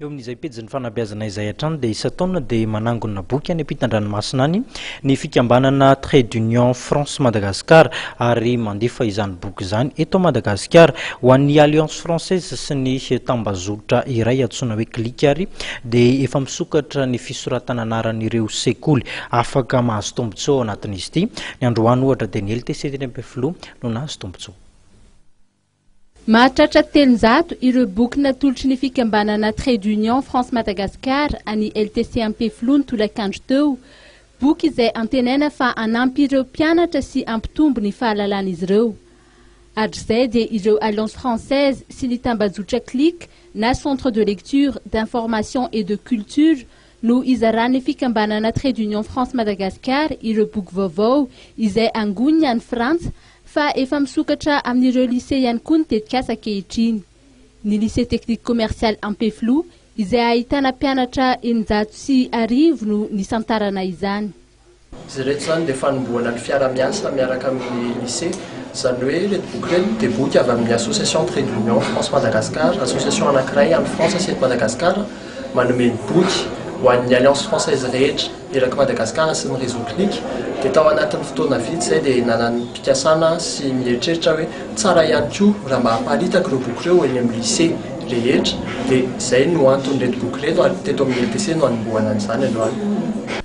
Eo amin'izay pejin'ny fanabeazana izay hatrany dia isan-taona dia manangona boky any am-pitan-dranomasina any ny fikambanana Trait d'Union France Madagascar ary mandefa izany boky izany eto Madagasikara ho an'ny Alliance Française sy ny tambazotra iray antsoina hoe Clic ary dia efa misokatra ny fisoratana anaran'ireo sekoly afaka mahazo tombontsoa ao anatin'izy ity. Ny androany ohatra dia ny LTC teny Ampefiloha no nahazo tombontsoa. Mahatratra telonjato ireo boky natolotry ny fikambanana Trade Union France Madagascar an'i LTC Ampefiloha ny tolakandro teo, boky izay antenaina fa hanampy ireo mpianatra sy hampitombo ny fahalalan'izy ireo. Hatrizay dia ireo Alliance Française sy ny tambajotra Click na Centre de Lecture, d'Information et de Culture no izaran'ny fikambanana Trait d'Union France Madagascar ireo boky vaovao izay angoniny any Frantsa fa efa misokatra amin'ireo lycée ihany koa ny tetikasa ankehitriny. Ny lycée technique commercial Ampefiloha izay ahitana mpianatra eninjato sy arivo no nisantarana izany. Izy ireto izany dia fanombohana ny fiara-miasa miaraka amin'ny Lycée. Izany hoe ireto boky ireto dia boky avy amin'ny Association Trait d'Union France Madagascar, association anankiray any Frantsa sy eto Madagasikara manome ny boky ho an'ny Alliance Française rehetra eraky Madagasikara sy ny Réseau Clic. Dia tao anatin'ny fotoana vitsy izay dia nanam-pikasana sy nieritreritra hoe tsara ihany koa raha mba haparitaka ireo boky ireo eny amin'ny Lycée rehetra. Dia izay no anton'ireto boky ireto ary teto amin'ny LTC no hanombohana an'izany androany.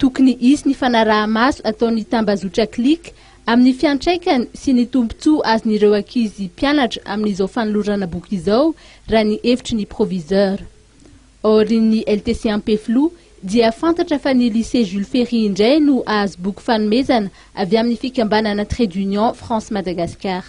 Tokony hisy ny fanaraha-maso ataon'ny tambazotra Click amin'ny fiantraikany sy ny tombontsoa azon'ireo ankizy mpianatra amin'izao fanolorana boky izao, raha ny hevitry ny proviseur. Aorian'ny LTC Ampefiloha dia fantatra fa ny Lycée Jules Ferry indray no hahazo boky fanomezana avy amin'ny fikambanana Trade Union France-Madagascar.